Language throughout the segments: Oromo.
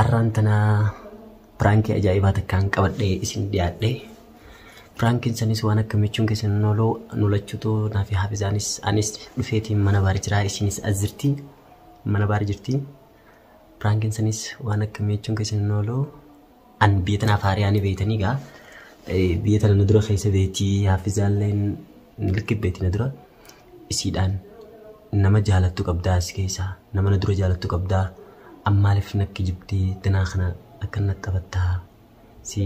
Arraan tana piraankii ajaa'ibaa takkaan qabadhee isin dhiyaadhe. Piraankiin sanis waan akka michuun keessan nooloo nulachuutu naaf haafizaanis anis dhufeetiin mana baar jiraa isinis as jirti mana baar jirti. Piraankiin sanis waan akka michuun keessan nooloo an biyya tanaaf haariyaa ni beeytanii gaa biyya tana na dura keessa beetii haafizaalleen likki beetii na dura. isiidhaan nama jaalattu qabdaa si keessaa nama na dura jaalattu qabdaa ammaaliif na kijibdee danaa kana akka na taphattaa si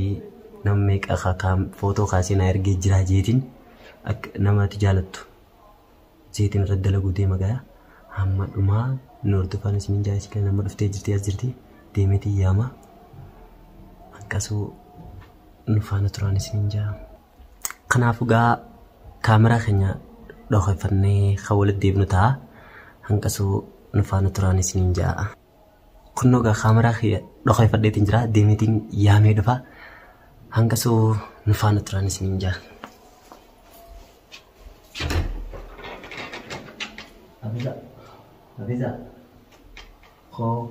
nama meeqa ka- ka- footoo kaasee na ergee jiraa jeetiin akka namatti jaalattu jeetiin irratti dalaguu deema gayaa hamma dhumaa nu hordofaan isiniin jaa isiidhaan amma dhuftee jirti as jirti deemeetii yaama hanqasuu nu faana turaan isiniin jaa. Kanaaf egaa kaameraa keenya dhokeffannee kan walitti deebinu ta'a. Hanqasuu nu faana turaan isiniin ja'a. Kunnoo egaa kaameraa kiyya dhokeffadheetiin jira. Deemeetiin yaamee dhufa. Hanqasuu nu faana turaan isiniin ja'a. Hafiza, Hafiza, koo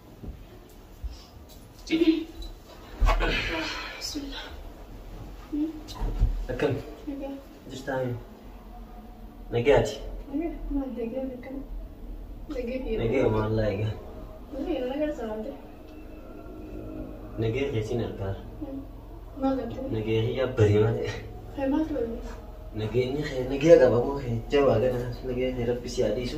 Akkam jirtaa mee? Nagaati. Nagaa maallaa egaa. Nagaa keetiin argaa. Nagaa hiyyaa barii malee. Nageenyi kee nagaa qaba moo kee jabaa ganaa nagaa kee rabbi si haa dhiisu.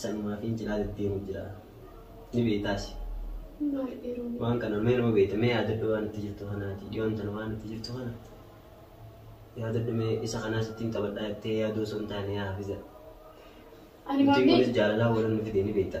Sanumaa fi cinaa deddeemu jira. Ni beektaasi. Maal dhiiruu? Waan kana mee nama beekta mee yaadadhu waan itti jirtu kanaati. Dhiyoon tana waan itti jirtu kana yaadadhu mee isa kanaas ittiin taphadhaa jettee yaaduu osoo hin taane yaa hafiza. Ani Nuti maamni kunis jaalalaa walan nu fide ni beekta.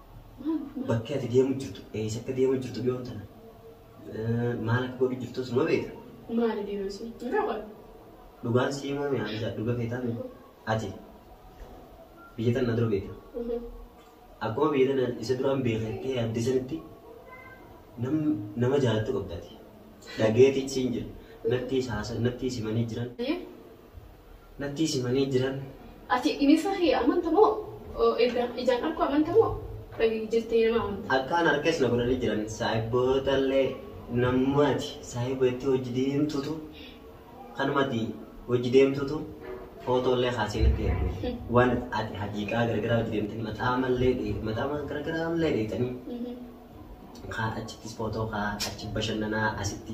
Bakki ati deemu jirtu eessa akka deemu jirtu dhiyoon tana maal akka godhu jirtu suma beekta. Maali deeman sun? Hin qaban. Dhugaan si himaa mi'aa isaa dhuga feetaa beeku. Ati biyya tana dura beekta. Akkuma biyya tana isa duraan beekattee yaadde sanitti nama jaalattu qabda ati. Dhageetiin siin jira. Nattii saasa nattii simanii jiran. nattiis himanii jiran. Ati bineensa kiyya amanta moo erga ijaan arku amanta moo dhagayyu jettee nama amanta? Akkaan harkas na godhanii jiran saahibbootaallee namuma ati saahiba jettee wajji deemtutu kanuma ati wajji deemtutu footoollee kaasee natti erge waan ati hajiiqaa garagaraa wajji deemtanii maxaamallee dheeyte maxaama garagaraallee dheeytanii kaa achittis footoo kaa achi bashannanaa asitti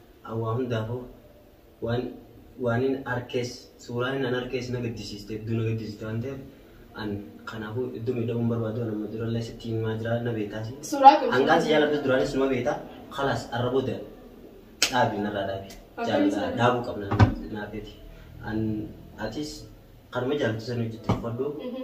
An waa hundaafuu waan waanin arkees suuraanin an arkees na gaddisiiste hedduu na gaddisiiste waan ta'eef an kanaafuu hedduu miidhamuu hin barbaadu an amma durallee sitti himaa jira na beektaasi. Suuraa kun Hangaan si suuraa. jaaladhu duraanis numa beekta kalaas arra booda dhaabi narraa dhaabi Akkamitti jaalala sana? dhaabuu qabna naafeeti an atis kanuma jaalatu san hojjette uffadhu Mhm.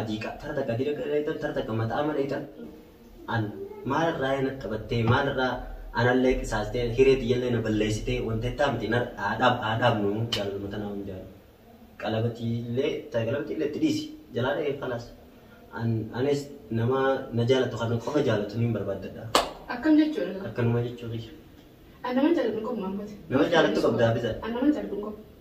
adiiqa tara takka adiira dheeytan tara takka maxaama dheeytan an maal irraa na taphattee maal irraa anallee qisaastee hiree tiyyallee na balleessitee wanta ittaa miti na dhaadhaab dhaadhaab nu jaalaluma tanaa hin jaalu qalabatiillee ta'e qalabatiillee itti dhiisi jalaa dha'ee falaas an anis nama na jaalatu kan qofa jaalatu niin barbaaddadha Akkam jechuudha? akkanuma jechuu kiyya An nama jaalatu hin qabu Maammooti. nama jaalatu qabdaa biza An nama jaalatu hin qabu.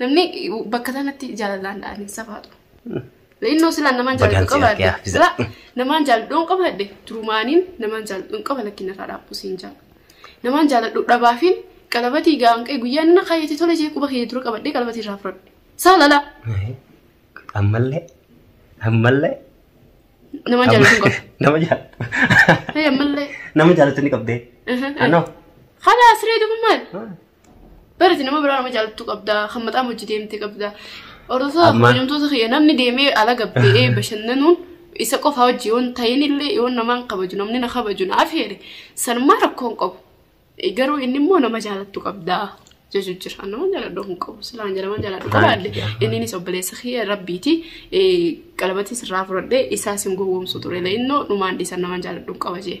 Namni bakka sanatti jaalalaan dha'anii safaatu. Innoo silaan namaan Bagaan jaalladhu siyaa qabaadde. gaafisa. Silaa namaan jaalladhu hin qabaadde. Turumaaniin namaan jaalladhu hin qaba lakkiin irraa dhaabbuu siin jaala. Namaan jaalladhu dhabaafiin qalabatii gaanqee guyyaa inni na kaayyatee tola jee quba kee dura qabadhee qalabatii irraa fudhadhe. Saalala Ammallee. Ammallee. namaan jaalladhu hin qabu. Nama jaalatu. Hey, ammallee. Nama jaalatu ni qabdee. Aha. Anoo. Kana asiree dubu maal? Barati nama biraa nama jaallattu qabda, kan mataa hojii deemte qabda. Hordoftoota Amma- kabajamtoota kiyya namni deemee ala gabba'ee bashannanuun isa qofa hojii yoon ta'in illee yoon namaan kabaju namni na kabaju na afeere sanumaa rakkoo hin qabu. Eh, Garuu inni immoo nama jaallattu qabda jechuu jira. An Nama jaalladhu hin qabu silaan jedhaman jaalladhu Right, qabaadde yeah. inninis obboleessa kiyya rabbiiti eh, qalabatis irraa fudhadhee isaas hin gowwoomsu ture illee innoo dhumaan dhiisan nama jaalladhu hin qaba jee.